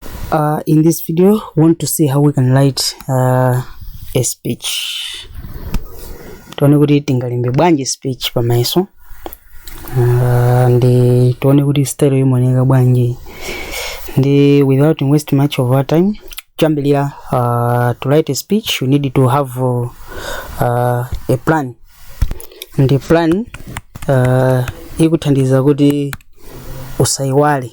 Uh, in this video, we want to see how we can write uh, a speech. Tione kuti tingalembe bwanji speech pamayeso uh, and tione kuti style imaoneka bwanji ndi without waste much of our time chambelira uh, to write a speech you need to have uh, uh, a plan nde plan uh, ikuthandiza kuti usaiwale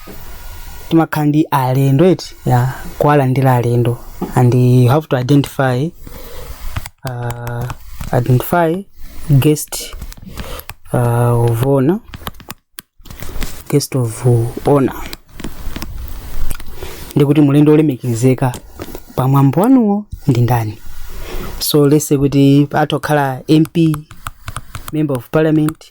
timakhala ndi alendo eti ya kuwalandira alendo and you have to identify uh, identify guest uh, of honor guest of honor ndi kuti mlendo olemekezeka pamwambo wanuwo ndi ndani so let's say kuti atha kukhala mp member of parliament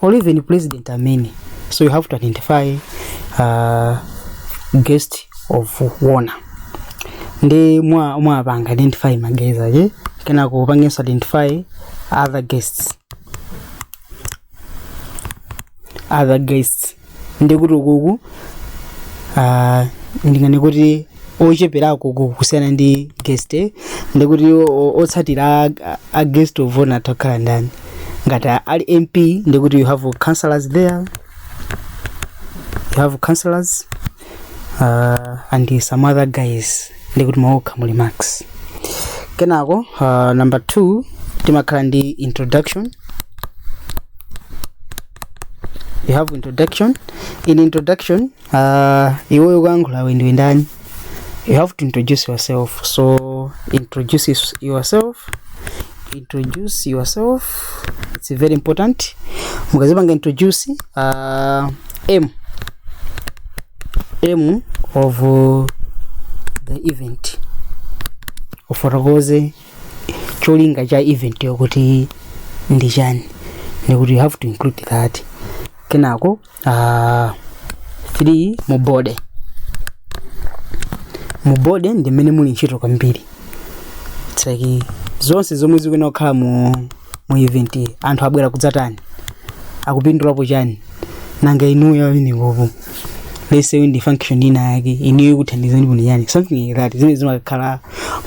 or even president amene so you have to identify uh, guest of honor nde mwa mwapanga identify ma guest aja kenako upangenso identify other guests other guests ndikuti ukulu ah, ndingani kuti ocheperako ukulu kusiyana ndi guest eh? ndikuti o- o- otsatira a- a- a guest of honor atha kukhala ndani ngati a- ali mp ndikuti you have councillors there you have councillors uh, and some other guys ndikuti mwakokha mu remarks kenako uh, number two timakhala ndi introduction you have introduction in introduction uh, iweyo oyankhulawe ndiwe ndani you have to introduce yourself so introduce yourself introduce yourself it's very important mukadzipanga introduce uh, m aim of uh, the event ufotokoze cholinga cha eventyo kuti ndi chani ndikuti you have to include that kenako uh, 3 mu body mu body ndi mmene muli ntchito kwambiri It's like zonse zomwe zikuyenera kukhala mu mu event iyi, anthu abwera kudzatani akupindulapo chani nanga inuyo amenewopo let's say ndi function ina yake inuyo ikuthandizani kuti chani something like that zimene zimakhala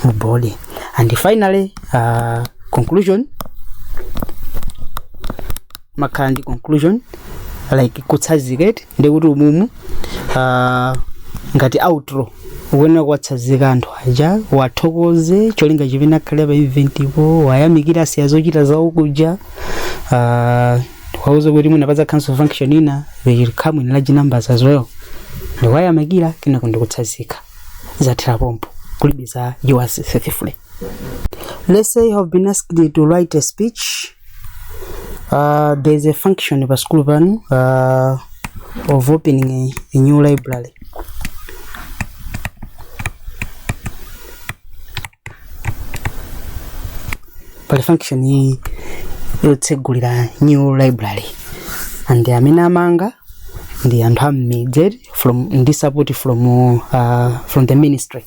mu body and finally uh, conclusion mumakhala ndi conclusion like kutsazika ndiye kuti umumu ah, ngati outro ukuyenera kuwatsazika anthu aja uwathokoze cholinga chimene akhale pa event ipo uwayamikire asiya zochita zawo kuja ah, uwauze kuti mwina pakazakhalanso function ina they will come in large numbers as well ndikuwayamikira kenako ndikutsazika zathera pompo kulibiza yours faithfully Let's say you have been asked to write a speech Uh, there is a function pa school pano uh, of opening a, a new library pali function iyi yotsegulira new library and amene amanga ndi anthu am'midzi from ndi support from uh, from the ministry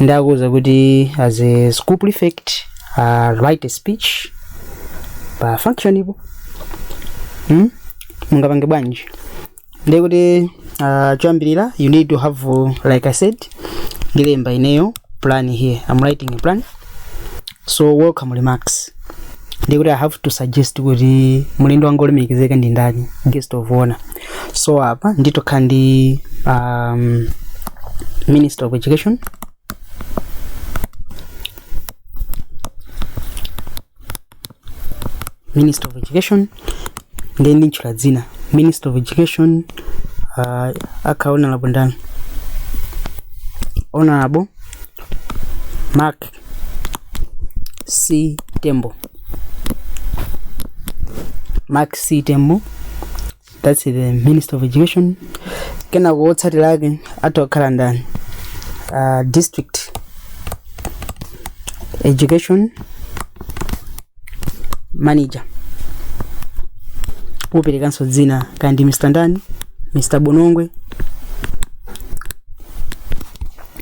ndiye akuuza kuti as a school prefect uh, write a speech pa function ipo hmm? mungapange bwanji ndiye kuti uh, choyambirira you need to have uh, like i said ndilemba ineyo plan here i'm writing a plan so welcome remarks ndiye kuti i have to suggest kuti mlendo wanga wolemekezeka ndi ndani guest of honor so apa nditha kukhala ndi um, minister of education minister of education ndiye ndintchula dzina minister of education uh, akha honorable ndani honorable mark c tembo mark c tembo that's the minister of education kenako wotsatira ake atha kukhala ndani uh, district education manager uperekenso dzina kaya ndi mr ndani mr bonongwe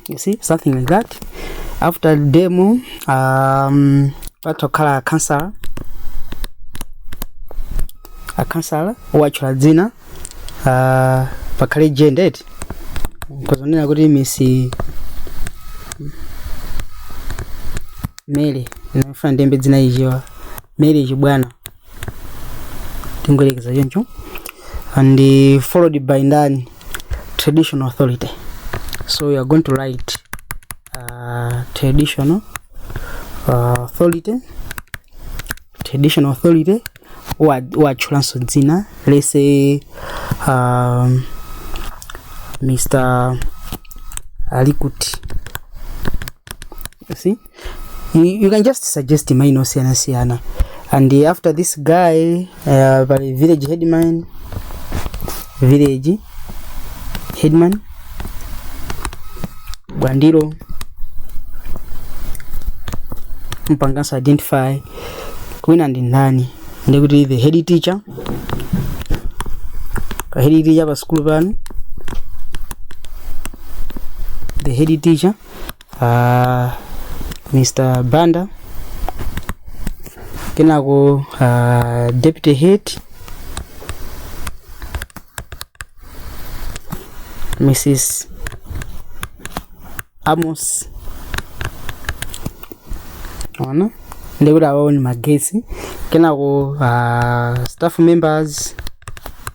you see something like that after DEM um, patha kukhala councillor akhansala uwatchule dzina ah, pakhale gender kuti uzinena kuti Mrs Mary ndafuna ndilembe dzina Mary Chibwana tingoyerekeza choncho and uh, followed by ndani traditional authority so you are going to write uh, traditional uh, authority traditional authority wa- watchulanso dzina lese um, mr ali kuti you see you, you can just suggest maina osiyanasiyana and uh, after this guy uh, pali village headman village headman Bwandilo umupangenso identify wina ndi ndani ndiye kuti the head teacher pa head teacher pa sukulu panu the head teacher uh, mr banda kenako uh, deputy head mrs amos ona ndikuti awawo ni magetsi kenako uh, staff members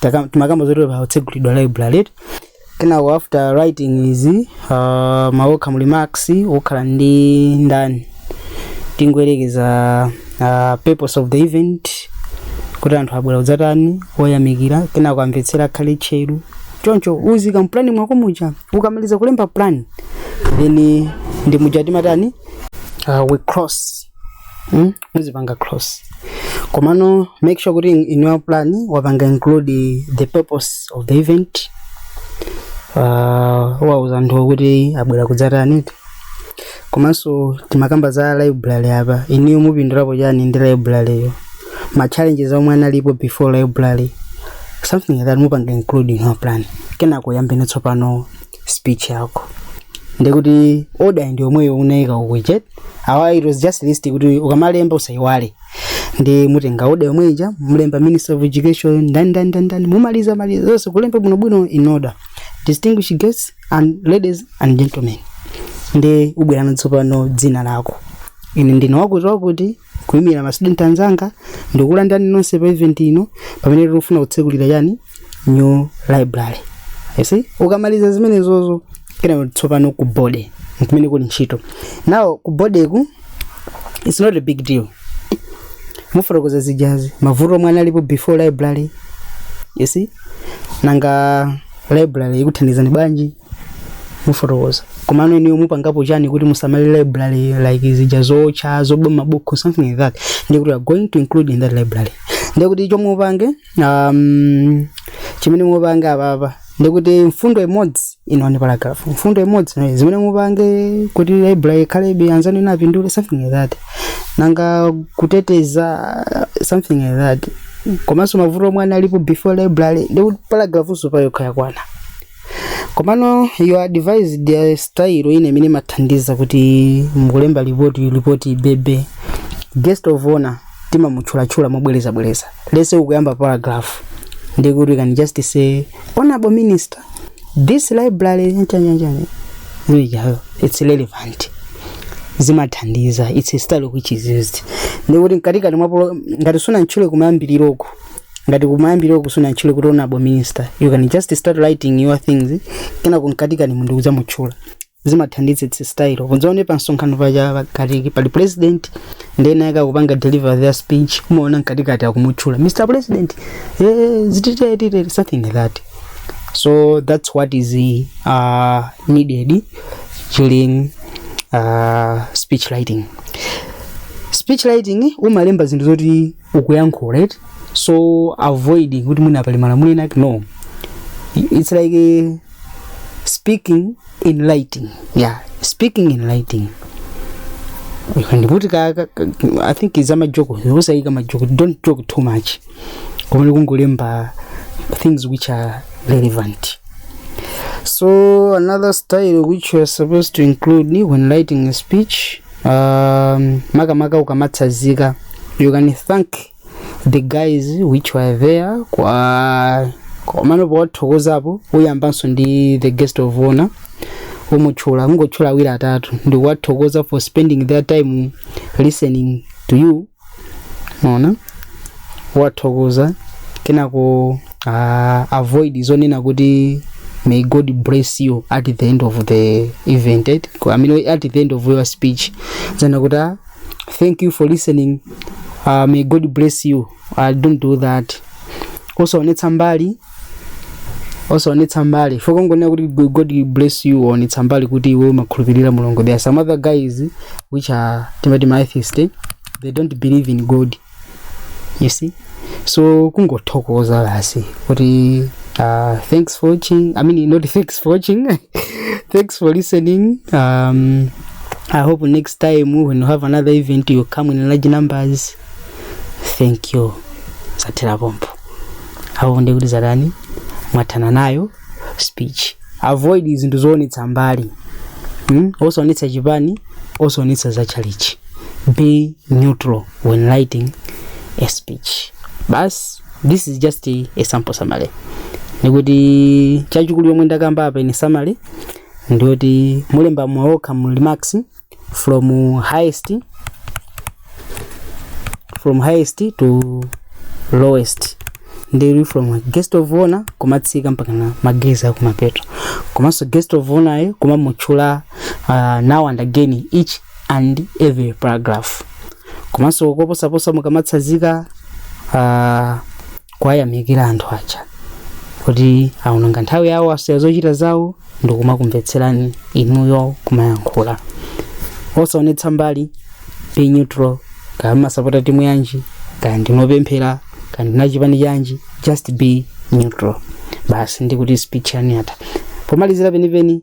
Taka- timakamba zoti pakutsegulidwa library eti kenako after writing izi uh, ma welcome remarks ukhala ndi ndani tingoyerekeza uh, purpose of the event kuti anthu abwera kudzatani uwayamikira kenako amvetsera akhale tcheru choncho uziika m'plan mwako muja ukamaliza kulemba plan then ndi muja timatani uh, we cross mm? muzipanga cross komano make sure kuti in your plan wapanga include the purpose of the event uh, wawuza anthu kuti abwera kudzatani komanso timakamba za library apa inuyo mupindulapo chani ndi library yo ma challenges omwe analipo before library something like that mupanga include in your plan kenako yambene tsopano speech yako ndiye kuti order ndi yomweyo unaika ukujet awa it was just list kuti ukamalemba usaiwale ndiye mutenga order yomwe ija mulemba minister of education ndani ndani ndani ndani mumaliza maliza zonse kulemba bwinobwino in order distinguished guests and ladies and gentlemen ndiye ubwerano tsopano dzina lako ine ndine wakuti wakuti kuyimira ma student anzanga ndikulandani nonse pa event ino pamene tikufuna kutsekulira chani new library you see ukamaliza zimenezozo kenako tsopano ku body nkumene kuli ntchito nawo ku body ku it's not a big deal mufotokoza zijazi mavuto omwe analipo before library you see nanga library ikuthandizani bwanji mufotokoza komano inuyo mupangapo chani kuti musamalire library like zija zotcha zoba mabuku something like that ndiye kuti we are going to include in that library ndiye kuti chomwe upange um, chimene mupange apapa ndiye kuti mfundo imodzi ino ni paragraph mfundo imodzi ino zimene mupange kuti library ikhalebe anzanu ena apindule something like that nanga kuteteza something like that komanso mavuto omwe analipo before library ndiye kuti paragraph nso payokha yakwana komano you advised a style ine imene imathandiza kuti mukulemba report report ibebe guest of honor timamutchulatchula mobwerezabwereza let's say ukuyamba paragraph ndiye kuti we can just say honorable minister this library ntanyanjani nijayo it's relevant zimathandiza it's a style which is used ndiye kuti mkatikati mwapo ngati sunamutchule kumayambiriroko ngati kumayambiriroko sunamutchule kuti honorable minister you can just start writing your things kenako mkatikani munthu kudzamutchula zimathandiza it's style ndiye mudzaone pa msonkhano paja pakakhala pali president ndena akukapanga deliver their speech umaona mkatikati akumutchula mr president eh, zititete something like that so that's what is uh, needed during uh, speech writing speech writing umalemba zinthu zoti ukuyankhula right so avoid kuti mwina pali malamulo ena ake no it's like eh, speaking in lighting yeah speaking in lighting ndikuti ka, ka, ka, i think is amajoko usayika majoko don't joke too much koma likungolemba things which are relevant so another style which you are supposed to include ni when writing a speech um, makamaka ukamatsazika you can thank the guys which were there kwa komano powathokozapo uyambanso ndi the guest of honor umutchula kungotchula awiri atatu ndikuwathokoza for spending their time listening to you maona wathokoza kenako uh, avoid zonena kuti may god bless you at the end of the event eh? Ko- I mean, at the end of your speech zana kuti ah, thank you for listening uh, may god bless you i don't do that osaonetsa mbali osaonetsa mbali fokongonera kuti "Go- god bless you waonetsa mbali kuti iwe umakhulupirira mulungu there are some other guys which are timati ma atheist eh? they don't believe in god you see so kungothokoza basi kuti uh, thanks for watching i mean not thanks for watching thanks for listening um, i hope next time when you have another event you come in large numbers thank you zathera pompo apo ndiye kuti zatani mwathana nayo speech avoid zinthu zoonetsa mbali mm? osaonetsa chipani osaonetsa za chalichi be neutral when writing a speech bas this is just a, a sample summary ndikuti chachikulu chomwe ndakamba apa ine summary ndiyoti mulemba mwaokha mu remarks from highest from highest to lowest ndi from guest of honor kumatsika mpaka ma guests a akumapeto komanso guest of honor ayo kumamutchula uh, now and again each and every paragraph komanso koposaposa mukamatsazika uh, kuwayamikira anthu aja kuti aononga nthawi yawo asiya zochita zawo ndikumakumvetserani inuyo kumayankhula osaonetsa mbali be neutral kaya mumasapota timu yanji kaya ndinu opemphera kaya ndinu a chipani chanji just be neutral basi ndikuti speech yanu yatha pomalizira penipeni